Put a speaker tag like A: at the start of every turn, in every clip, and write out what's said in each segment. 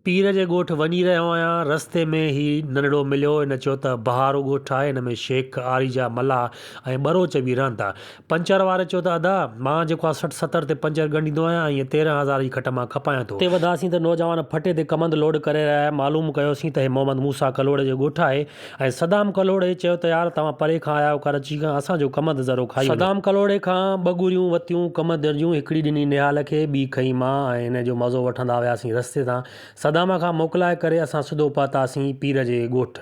A: پير جي ڳوٺ وڃي رهيو آهيان، رستي ۾ هي ننڍڙو مليو، هن چيو ته بهارو ڳوٺ آهي، هن ۾ شيخ، آريجا، ملاح ۽ ٻروچ به رهن ٿا. پنچر واري چيو ته ادا، مان جيڪو آهي سٺ ستر تي پنچر ڳنڍيندو آهيان ۽ هيء تيرنهن هزار جي کٽ مان کپايان ٿو. اتي وڌاسين ته نوجوان ڦٽي تي ڪمند لوڊ ڪري رهيا هيا، معلوم ڪيوسين ته هي محمد موسيٰ ڪلهوڙي جو ڳوٺ آهي، ۽ صدام ڪلهوڙي چيو ته يار توهان پري کان آيا آهيو ڪراچي کان اسان جو ڪمند ذرو کائي وڃو. صدام ڪلهوڙي کان ٻه ڳريون وتيون ڪمند جون هڪڙي ڏني نهال کي ٻي کئي مان ۽ انهن جو مزو وٺندا وياسين رستي تان صدام کان موڪلائي ڪري اسان سڌو پهتاسين پير جي ڳوٺ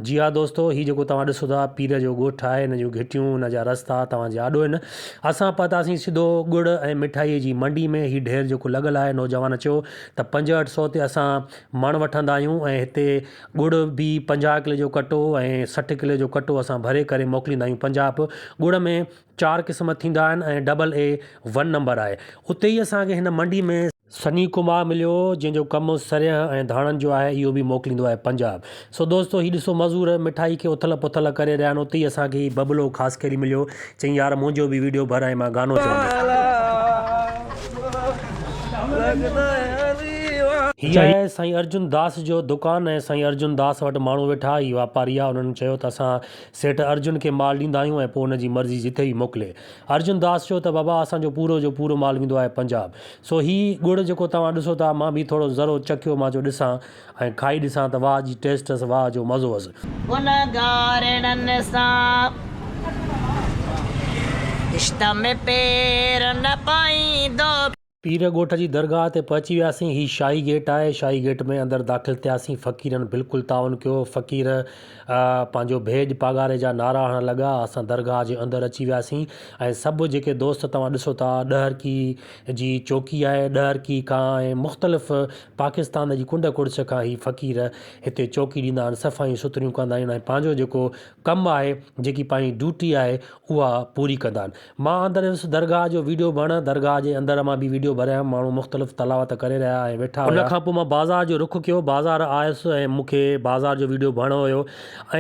A: جي ها دوستو هي جيڪو توهان ڏسو ٿا پير جو ڳوٺ آهي ان جون گهٽيون ان جا رستا توهان جي آڏو هن اسان پهتاسين سڌو ڳڙ ۽ مٺائي جي منڊي ۾ هي ڍير جيڪو لڳل آهي نوجوان چيو ته پنجهٺ سو تي اسان مڻ وٺندا آهيون ۽ هتي ڳڙ به پنجاهه ڪلي جو ڪٽو ۽ سٺ ڪلي جو ڪٽو اسان ڀري ڪري موڪليندا آهيون پنجاب ڳڙ ۾ چار قسم ٿيندا آهن ۽ ڊبل اي ون نمبر آهي اتي ئي اسان کي هن منڊي ۾ سني ڪمار مليو هو جنهن جو ڪم سريهه ۽ ڌاڻن جو آهي اهو به موڪليندو آهي پنجاب سو دوستو هي ڏسو مزور مٺائي کي اٿل پٿل ڪري رهيا آهن اتي ئي اسان کي هي ببلو خاصخيلي مليو چيائين يار منهنجو به ويڊيو ڀر ۽ مان گانو چوندس. هي آهي سائين ارجن داس جو دڪان ۽ سائين ارجن داس وٽ ماڻهو ويٺا هي واپاري آ انهن چيو ته اسان سيٺ ارجن کي مال ڏيندا آهيون ۽ پوء ان جي مرضي جتي به موڪلي ارجن داس چيو ته بابا اسان جو پورو جو پورو مال ويندو آهي پنجاب سو هي ڳڙ جيڪو توهان ڏسو ٿا مان به ٿورو ذرو چکيو مان چيو ڏسان ۽ کائي ڏسان ته واهه جي ٽيسٽ هئس واهه جو مزو هئس. ان گاريڙن سان رشته ۾ پير نه پائيندو. پير ڳوٺ جي درگاهه تي پهچي وياسين. هي شاهي گيٽ آهي. شاهي گيٽ ۾ اندر داخل ٿياسين. فقيرن بلڪل تعاون ڪيو. فقير پنهنجو ڀيڄ پاڳاري جا نعرا هڻڻ لڳا. اسان درگاهه جي اندر اچي وياسين ۽ سڀ جيڪي دوست توهان ڏسو ٿا ڏهرڪي جي چوڪي آهي. ڏهرڪي کان ۽ مختلف پاڪستان جي ڪنڊ ڪڙڇ کان هي فقير هتي چوڪي ڏيندا آهن صفايون سٿريون ڪندا آهن ۽ پنهنجو جيڪو ڪم آهي جيڪي پنهنجي ڊيوٽي آهي اها پوري ڪندا آهن مان اندر ويس درگاهه جو ويڊيو ڀڻ درگاهه جي اندر مان به ويڊيو ڀريائم ماڻهو مختلف تلاوت ڪري رهيا ۽ ويٺا هيا ان کان پوء مان بازار جو رخ ڪيو بازار آيس ۽ مون کي بازار جو ويڊيو ڀڻ هيو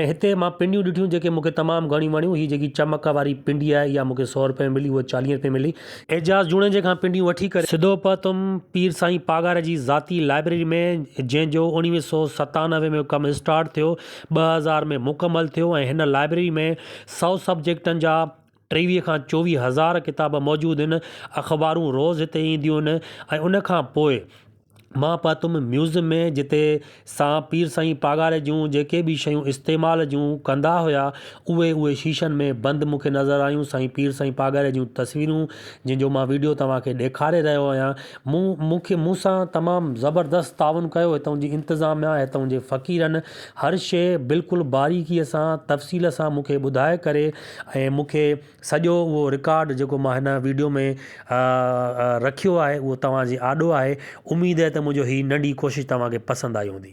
A: ۽ هتي مان پنڊيون ڏٺيون جيڪي مون کي تمام گهڻيون وڻيون هي جيڪي چمڪ واري پنڊي آهي اها مون کي سؤ روپئي ۾ ملي اها چاليهه روپئي ملي اعجاز جوڻيجي کان پنڊيون وٺي ڪري سڌو پهتم پير سائين پاڳاري جي ذاتي لائبريري ۾ جنهن جو اوڻويهه سؤ ستانوي ۾ ڪم اسٽارٽ ٿيو ٻه هزار ۾ مڪمل ٿيو ۽ هن لائبريري ۾ سؤ سبجيڪٽن جا ٽيويهه کان چوويهه هزار ڪتاب موجود هن اخبارون روز هتي اينديون هن ۽ ان کان پوء مان پاتم ميوز ۾ جتي سان پير سائين پاڳاري جون جيڪي به شيون استعمال جون ڪندا هيا اهي اهي شيشن ۾ بند مونکي نظر آيون سائين پير سائين پاڳاري جون تصويرون جن جو مان ويڊيو توهان کي ڏيکاري رهيو آهيان مون مونکي مون سان تمام زبردست تعاون ڪيو هتئون جي انتظاميا هتئون جي فقيرن هر شي بلڪل باريڪي سان تفصيل سان مونکي ٻڌائي ڪري ۽ مونکي سڄو اهو رڪارڊ جيڪو مان هن ويڊيو ۾ رکيو آهي اهو توهان جي آڏو آهي اميد آهي ته منهنجو هي ننڍي ڪوشش توهان کي پسند آئي هوندي.